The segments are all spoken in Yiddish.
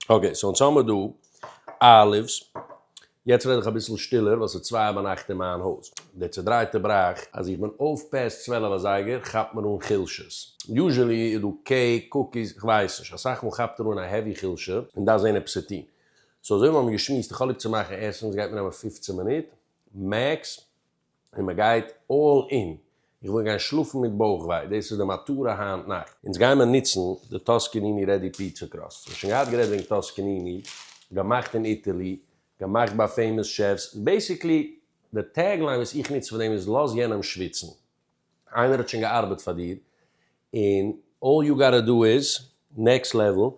אקעי, סאו אונז האמער דא אלי'ס, יעצט רעד איך אביסל שטילער ווייל ס'איז צוויי ביינאכט אין מיין הויז, דער צעדרייטער בראך אז איך בין אויף פעסט צוועלף אזייגער כאפט מיר אן חולשות, יוזשעלי איז דא קעיק, קוקיס, כ'ווייס נישט, אסאך מאל כאפט ער אן א העווי חולשה און דארף זען עפעס צו טון, סאו אזוי ווי מיר האבן געשמועסט איך האב ליב צו מאכן עסן, ס'גייט מיר נעמען פֿופֿצן מינוט מעקס, און מען גייט אלל אין, איך וויל גיין שלאפן מיט בויך וויי, דאס איז די מטרה היינט נאכט. אונז גיימער ניצן די טאסקעניני רעדי פיצא קראסט, מיר האבן שוין געהאט גערעדט וועגן טאסקעניני, געמאכט אין איטעלי, געמאכט ביי פעימאס שעפס, בעסיקלי די טעג ליין וואס איך ניץ פאר דעם איז לאז יענעם שוויצן. איינער האט שוין געארבעט פאר דיר און אלל יו גאטע דא איז נעקסט לעוועל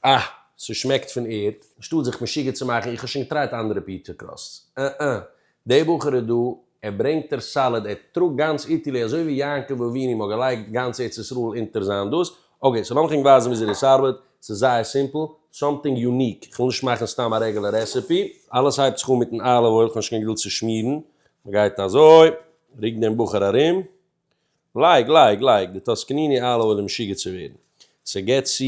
אה ס'שמעקט פון ערד אנשטאט זיך משוגע צו מאכן איך האב שוין געטרייט אנדערע פיטשער קראסטס אה אה דער בחור איז דא ער ברענגט ער סאליד ער טראגט גאנץ איטעלי אזוי ווי יעקב אבינו מ'האט געלייגט גאנץ ארץ ישראל אונטער זיין דאס אקעי סאו לאמיך ענק ווייזן וויאזוי דאס ארבעט ס'איז זייער סימפל סאמטינג יוניק כ'וויל נישט מאכן סתם א רעגולער רעסעפי אלעס הייבט זיך אן מיטן אליוו אויל כ'האב נישט קיין געדולד צו שמירן מ'גייט אזוי. רוק דעם בחור ארום. לייג, לייג, לייג די טוסקניני אלע אן אים משוגע צו ווערן. ס'געט צו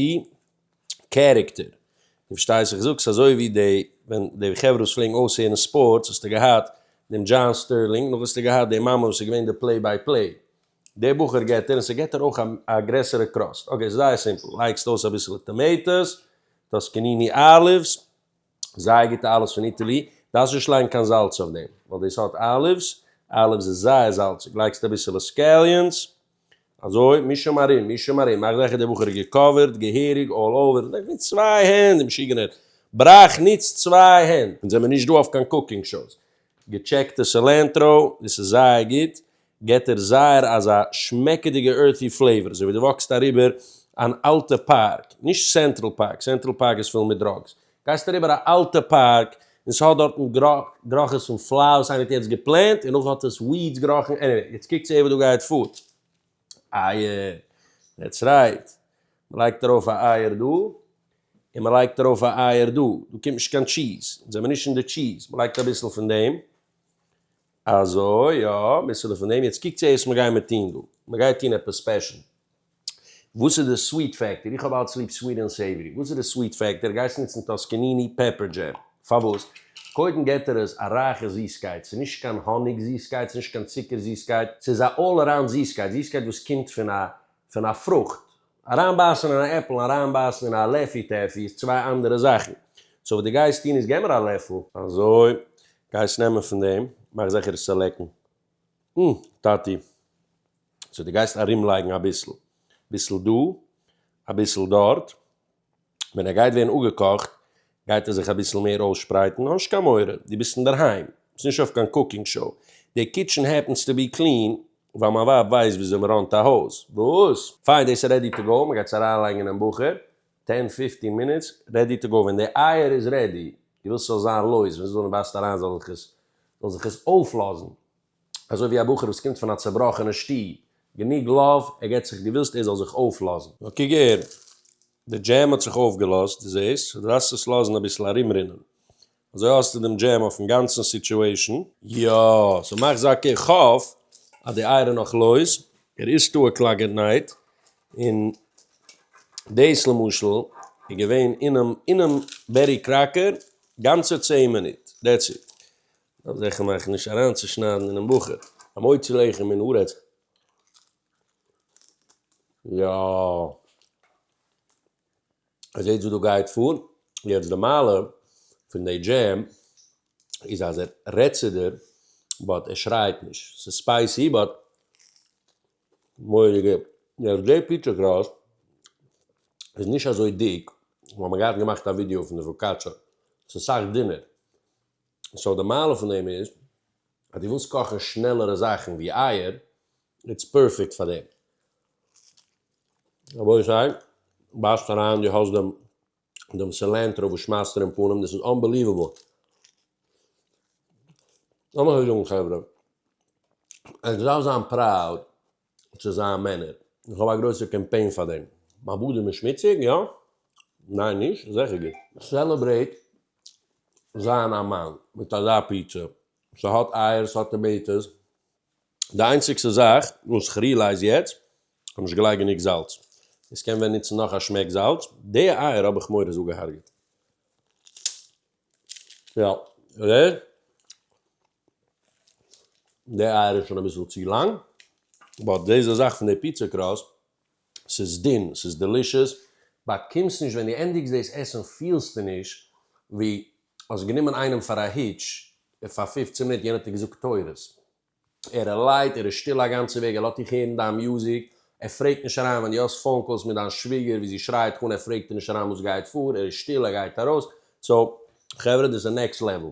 קערעקטער. דו פארשטייסט איך זאג ס'אזוי ווי די ווען די חברה וואס פלעגן אויסהערן ספארטס האסטו געהאט דעם דזשאן סטערלינג נאך האסטו געהאט די מאמע וואס איז געווען די פלעי ביי פלעי. די בחור געט ער און ס'געט ער אויך א גרעסערע קראסט. אקעי ס'איז זייער סימפל לייגסט אויס אביסעלע טאמעיטאס, טוסקניני אליווס, זייער גוטע אליווס פון איטעלי, דארפסט נישט לייגן קיין זאלץ אויף דעם, ווייל די סארט אליווס, אליווס איז זייער זאלציג, לייגסט אביסעלע סקעליאנס, אזוי, מיש אים ארום, מיש אים ארום, מאך זעכער דער בחור איז געקאווערט געהעריג אלל אווער, דאס מיט צוויי הענט, די משוגענער בראך נוצט צוויי הענט, אונז זעמיר נישט דא אויף קיין קוקינג שאוס, געטשעקטע סעלענטראו, דאס איז זייער גוט, געט דער זייער אזא שמעקעדיגע ארטי פלעיוואר, אזוי ווי דו וואקסט אריבער אן אלטע פארק, נישט סענטרעל פארק, סענטרעל פארק איז פול מיט דראגס, גייסט אריבער א אלטע פארק און ס'האט דארטן גראכעס פון פלאר וואס איינער האט יעצט געפלענט און נאך האט עס וויעדס געראכן, עניוועי יעצט קוקטס אהער וואס דא גייט פאר, אייער, דעטס רייט, מ'לייגט ארויף א אייער דא און מ'לייגט ארויף א אייער דא, דא קומט נישט קיין טשיז, אונז זעמער נישט אין די טשיז, מ'לייגט אביסל פון דעם, אזוי יא, מ'איז פון דעם, יעצט קוקטס אייס וואס מ'גייען מיר טוהן דא, מ'גייט טוהן עפעס ספעשל, וואס איז די סוויט פעקטער, איך האב אלץ ליב סוויט ענד סעיווערי, וואס איז די סוויט פעקטער, גייסט נוצן טאסקעניני פעפער דזשעם, פארוואס, קודם געט ער עס א רייכע זיסקייט, ס'איז נישט קיין האניג זיסקייט, ס'איז נישט קיין צוקער זיסקייט, ס'איז א אלל אראונד זיסקייט, זיסקייט וואס קומט פון א פון א פרוכט, אריינבייסן אין א עפל און אריינבייסן אין א לעפי טעפי איז צוויי אנדערע זאכן. סאו וואס דו גייסט טון איז געב מיר א לעפל. אזוי, גייסט נעמען פון דעם, מאך זיכער עס צו לעקן. אום, טאטי. סאו דו גייסט ארומלייגן אביסל. ביסל דא, אביסל דארט, ווען ער גייט ווערן אפגעקאכט גייט ער זיך אביסל מער אויסשפרייטן, נישט קיין מורא, דו ביסט אינדערהיים, ביסט נישט אויף קיין קוקינג שאו, די קיטשען העפענס טו בי קלין, ווייל מיין ווייב ווייסט וויאזוי מען ראנט א הויז, וואס? פיין, דאס איז רעדי טו גאו, מען גייט עס אריינלייגן אינעם באכער, טען פיפטין מינוטס, רעדי טו גאו, ווען די אייער איז רעדי, דו ווילסט ס'זאל זיין לויז, ווען ס'זאל נישט בייסט אריין זאל זיך עס זאל זיך עס אויפלאזן. אזוי ווי א בחור וואס קומט פון א צובראכענע שטוב, גענוג לאוו, ער געט זיך געווילסט ער זאל זיך אויפלאזן. נאר קוק הער, די דזשעם האט זיך אויפגעלאזט, דו זעסט? סאו דו דארפסט עס לאזן אביסל ארומרינען. אזוי האסטו דעם דזשעם אויפן גאנצן סיטשועישן. יא, סאו מאך זאקע, איך האף אז די אייער איז נאך לויז, ער איז טאא קלאגענעיט, און דאס למשל איז געווען אינעם אינעם בעטי קראקער גאנצע צעהן מינוט, דעטס איט. דארף זיכער מאכן נישט אריינצושניידן אינעם בחור. המוציא לחם מן הארץ. יא. איר זעט וואס דא גייט פאר? יעצט די מעלה פון די דזשעם איז אז ער רעדט צו דיר באט ער שרייט נישט. ס'איז ספייסי באט מורא גוט. יעצט די פיטשער קראסט איז נישט אזוי דיק, מ'האט מיר געהאט געמאכט א ווידיאו פון די פאקאטשא. ס'איז סאך דינער. סאו די מעלה פון דעם איז אז דו ווילסט קאכן שנעלערע זאכן ווי אייער, איטס פערפעקט פאר דעם. רבותי סיי בייסט אריין דו האסט דעם דעם סילענטרא וואס שמייסט דיר אין פנים דאס איז אנבעליוועבל. לאמיך זאגן חברה, ענק דארף זיין פראוד. צו זיין מענער. איך האב א גרויסע קעמפעין פאר דעם. מיין באדעם איז שמוציג? יא. ניין נישט? זעכער גוט. סעלעברעיט זיין א מאן מיט אזא פיצא. ס'האט אייער, ס'האט טאמעיטאס. די איינציגסטע זאך וואס כ'רילייז יעצט, כ'האב נישט געלייגט גענוג זאלץ. עס קען ווען נוצן נאך א שמעק זאלץ. די אייער האב איך מורא'ס אפגעהארגעט. יא. די אייער איז שוין אביסל צו לאנג, באט דיזע זאך פון די פיצא קראסט, ס'איז דין, ס'איז דעלישעס, באקומסט נישט, ווען דו ענדיגסט דאס עסן פילסטו נישט ווי האסט גענומען איינעם פאר א היטש פאר פֿופֿצן מינוט, יענער האט דיר געזאגט תורות, ער איז לייט, ער איז שטיל א גאנצע וועג, ער לאזט דיך הערן דיין מוזיק, ער פרעגט נישט אריין, ווען דו האסט פאון קאלס מיט דיין שוויגער ווי זי שרייט דיך אן, ער פרעגט נישט אריין וואס גייט פאר, ער איז שטיל, ער גייט ארויס, סאו חברה דאס איז נעקסט לעוועל.